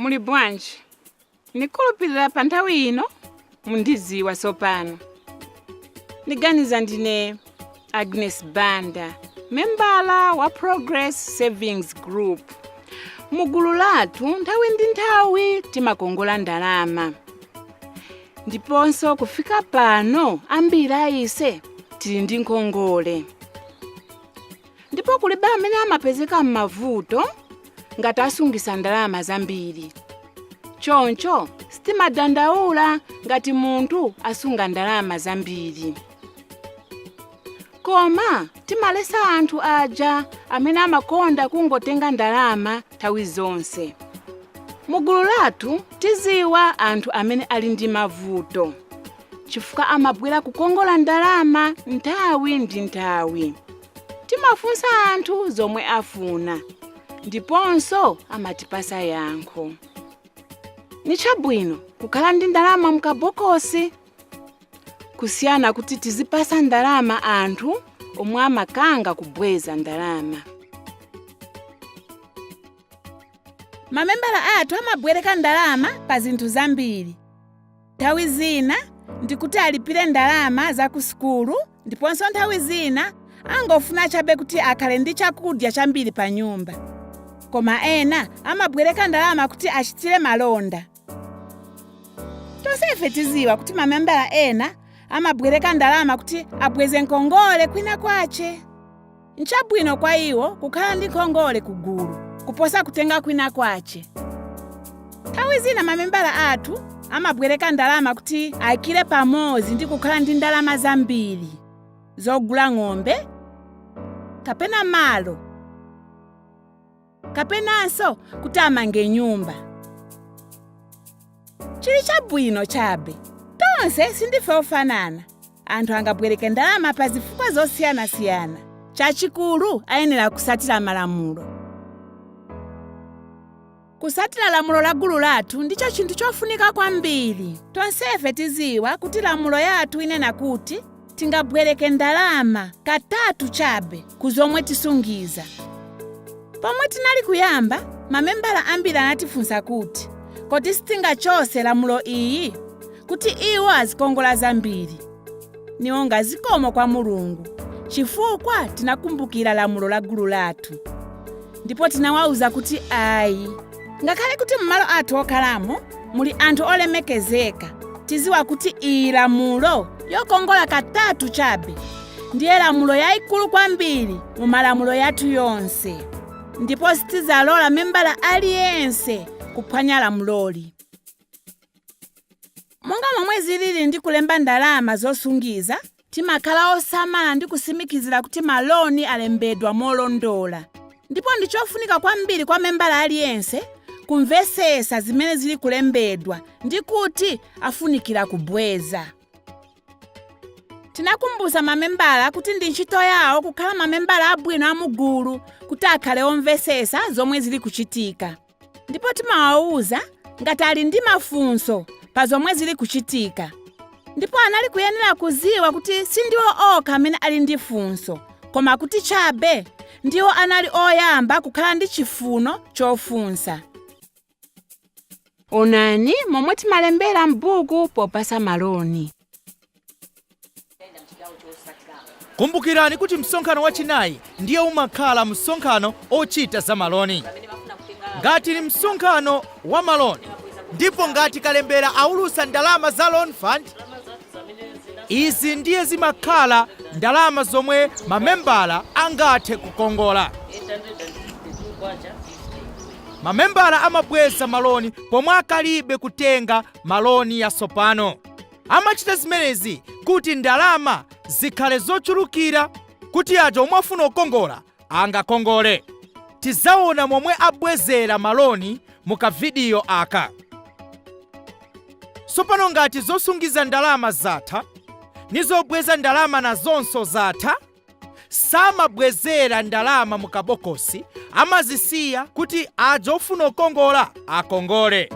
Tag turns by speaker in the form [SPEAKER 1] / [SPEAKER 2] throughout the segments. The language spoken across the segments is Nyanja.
[SPEAKER 1] muli bwanji ndikhulupirira pa nthawi ino mundiziwa tsopano ndiganiza ndine agnes banda membala wa progress savings group mu gulu lathu nthawi ndi nthawi timakongola ndalama ndiponso kufika pano ambiri aise tili ndi nkhongole ndipo kulibe amene amapezeka m'mavuto ngati asungisa ndalama zambiri choncho sitimadandaula ngati munthu asunga ndalama zambiri koma timalesa anthu aja amene amakonda kungotenga ndalama nthawi zonse mugulu lathu tiziwa anthu amene ali ndi mavuto chifukwa amabwera kukongola ndalama nthawi ndi nthawi timafunsa anthu zomwe afuna ndiponso amatipasa yankho ni chabwino kukhala ndi ndalama mkabokosi kusiyana kuti tizipasa ndalama anthu omwe amakanga kubweza ndalama mamembala athu amabwereka ndalama pa zinthu zambiri Nthawi zina ndi kuti alipire ndalama za ku sukulu ndiponso nthawi zina angofuna chabe kuti akhale ndi chakudya chambiri pa nyumba. Koma ena amabwereka ndalama kuti achitire malonda. Tonsefe tiziwa kuti mamembala ena amabwereka ndalama kuti abweze nkhongole kwina kwache. nchabwino kwa iwo kukhala ndi nkhongole ku gulu kuposa kutenga kwina kwache nthawi zina mamembala athu amabwereka ndalama kuti aikire pamodzi ndi kukhala ndi ndalama zambiri zogula ng'ombe kapena malo kapenanso kuti amange nyumba chili chabwino chabe tonse sindife ofanana anthu angabwereke ndalama pa zifukwa zosiyanasiyana chachikulu ayenera kusatira malamulo kusatira lamulo la gulu lathu ndicho chinthu chofunika kwambiri tonsefe tiziwa kuti lamulo yathu inena kuti tingabweleke ndalama katatu chabe ku zomwe tisungiza. Pomwe tinali kuyamba, mamembala ambiri anatifunsa kuti, Kodi sitingachose lamulo iyi? Kuti iwo azikongola zambiri. Niwonga zikomo kwa Mulungu, chifukwa tinakumbukila lamulo la gulu lathu. Ndipo tinawauza kuti ayi. ngakhale kuti m'malo athu okhalamo muli anthu olemekezeka tiziwa kuti iyi lamulo yokongola katatu chabe ndiye lamulo yayikulu kwambiri mu malamulo yathu yonse ndipo sitizalola membala aliyense kuphwanya lamuloli Monga momwe zilili ndi kulemba ndalama zosungiza, timakhala osamala ndi kusimikizira kuti maloni alembedwa molondola. Ndipo ndi chofunika kwambiri kwa membala aliyense kumvesesa zimene zili kulembedwa ndi kuti afunikira kubweza. Tinakumbusa mamembala kuti ndi ntchito yawo kukhala mamembala abwino a mugulu kuti akhale omvesesa zomwe zili kuchitika. ndipo timawawuza ngati ali ndi mafunso pa zomwe zili kuchitika ndipo anali kuyenera kuziwa kuti sindiwo okha amene ali ndi funso koma kuti chabe ndiwo anali oyamba kukhala ndi chifuno chofunsa onani momwe timalembera m'buku popasa maloni
[SPEAKER 2] kumbukirani kuti msonkhano wachinayi ndiye umakhala msonkhano ochita za maloni ngati ni msonkhano wa maloni ndipo ngati kalembera aulusa ndalama za loan fund izi ndiye zimakhala ndalama zomwe mamembala angathe kukongola mamembala amabweza maloni pomwe akalibe kutenga maloni yasopano Amachita zimenezi kuti ndalama zikhale zochulukira kuti aja omwe afuna kukongola angakongole. Tizaona momwe abwezera maloni mu kavidiyo aka. Sopano ngati zosungiza ndalama zatha, ni zobweza ndalama nazonso zatha. samabwezera ndalama mu kabokosi amazisiya kuti aja ofuna kukongola akongole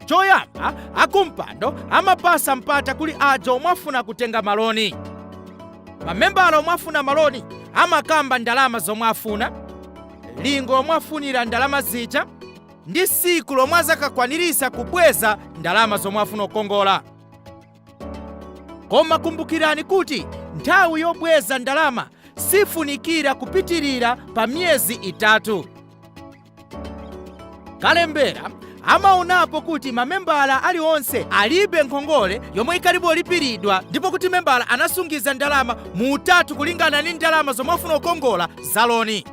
[SPEAKER 2] choyamba akumpando amapasa mpata kuli aja omwe afuna kutenga maloni mamembala omwe afuna maloni amakamba ndalama zomwe afuna lingo lomwe afunira ndalama zija ndi siku lomwe azakakwanirisa kubweza ndalama zomwe afuna kukongola koma kumbukirani kuti nthawi yobweza ndalama sifunikira kupitirira pa miyezi itatu kalembera amaonapo kuti mamembala aliwonse alibe nkhongole yomwe ikalibe kulipiridwa ndipo kuti membala anasungiza ndalama mu utatu kulingana ndi ndalama zomwe afuna kukongola za loni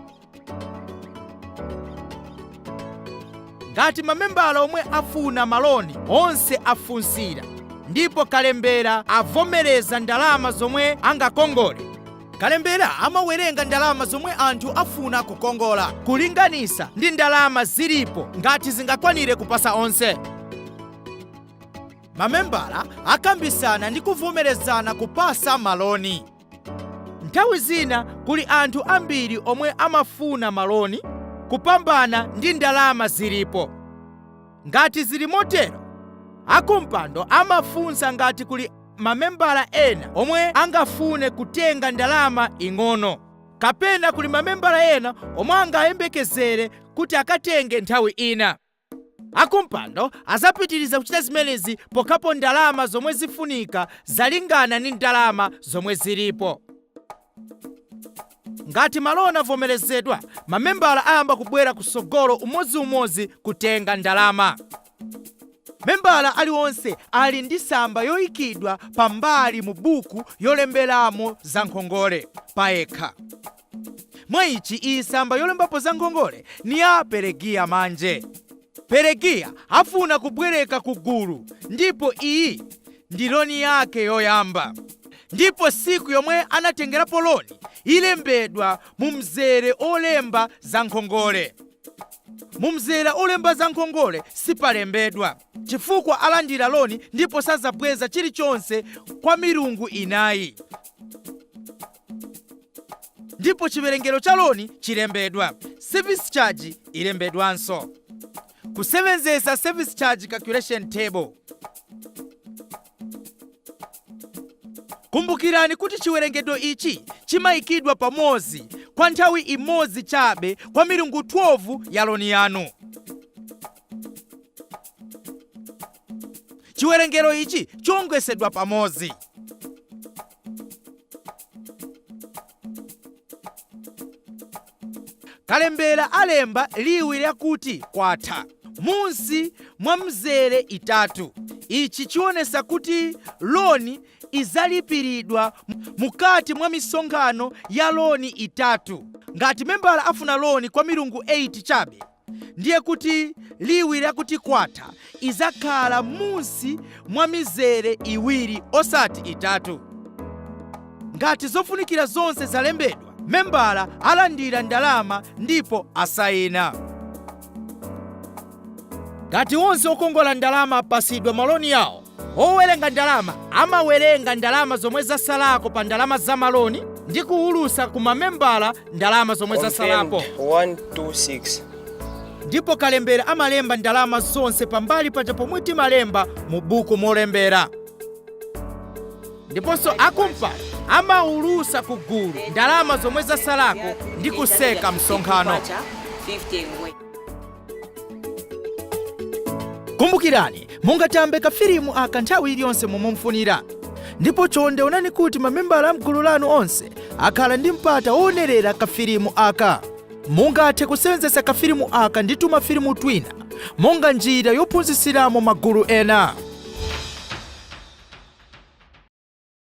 [SPEAKER 2] ngati mamembala omwe afuna maloni onse afunsira ndipo kalembera avomereza ndalama zomwe angakongole kalembera amawerenga ndalama zomwe anthu afuna kukongola kulinganisa ndi ndalama zilipo ngati zingakwanire kupasa onse mamembala akambisana ndi kuvomerezana kupasa maloni Nthawi zina kuli anthu ambiri omwe amafuna maloni kupambana ndi ndalama zilipo. Ngati zili motero, akumpando amafunsa ngati kuli mamembala ena omwe angafune kutenga ndalama ing'ono, kapena kuli mamembala ena omwe angayembekezere kuti akatenge nthawi ina. Akumpando azapitiliza kuchita zimenezi pokhapo ndalama zomwe zifunika zalingana ndi ndalama zomwe zilipo. Ngati maloni avomelezedwa, mamembala ayamba kubwera kusogolo umodzi umodzi kutenga ndalama. Membala aliwonse ali ndi samba yoikidwa pambali mu buku yolembelamo za nkhongole payekha. Mwa ici, iyi samba yolembapo za nkhongole ni ya Pelegiya manje. Pelegiya afuna kubweleka ku gulu, ndipo iyi ndi loni yake yoyamba. Ndipo siku yomwe anatengelapo loni ilembedwa mu mzele olemba za nkhongole. Mu mzele olemba za nkhongole sipalembedwa, chifukwa alandila loni ndipo sazabweza chilichonse kwa milungu inayi. ndipo chiwerengero cha loni chilembedwa service charge ilembedwanso kusewenzesa service charge calculation table kumbukirani kuti chiwerengero ichi chimayikidwa pamodzi kwa nthawi imodzi chabe kwa milungu 12 ya loni yanu chiwerengero ichi chiongesedwa pamodzi kalembera alemba liwu lakuti kwatha munsi mwa mzere itatu ichi chionesa kuti loni izalipiridwa mukati mwa misonkhano ya loni itatu ngati membala afuna loni kwa milungu 8 chabe ndiye kuti liwu lakuti kwatha izakhala munsi mwa mizere iwiri osati itatu. Ngati zofunikira zonse zalembedwa, membala alandira ndalama ndipo asayina. Ngati onse okongola ndalama apasidwa maloni yawo, Owerenga ndalama amawerenga ndalama zomwe zasalako pa ndalama za maloni ndi kuwulusa ku mamembala ndalama zomwe zasalapo. Confirmed 126. Ndipo kalembera amalemba ndalama zonse pambali paja pomwe timalemba mu buku molembera. Ndiponso akumpando amawulusa ku gulu ndalama zomwe zasalako ndi kuseka msonkhano. Kwacha, 50 ngwe. kumbukirani mungatambe kafilimu aka nthawi iliyonse momwe mufunira ndipo chonde onani kuti mamembala a mgulu lanu onse akhala ndi mpata woonerera kafilimu aka mungathe kusewenzetsa kafilimu aka ndi tumafilimu twina monga njira yophunzitsiramo magulu ena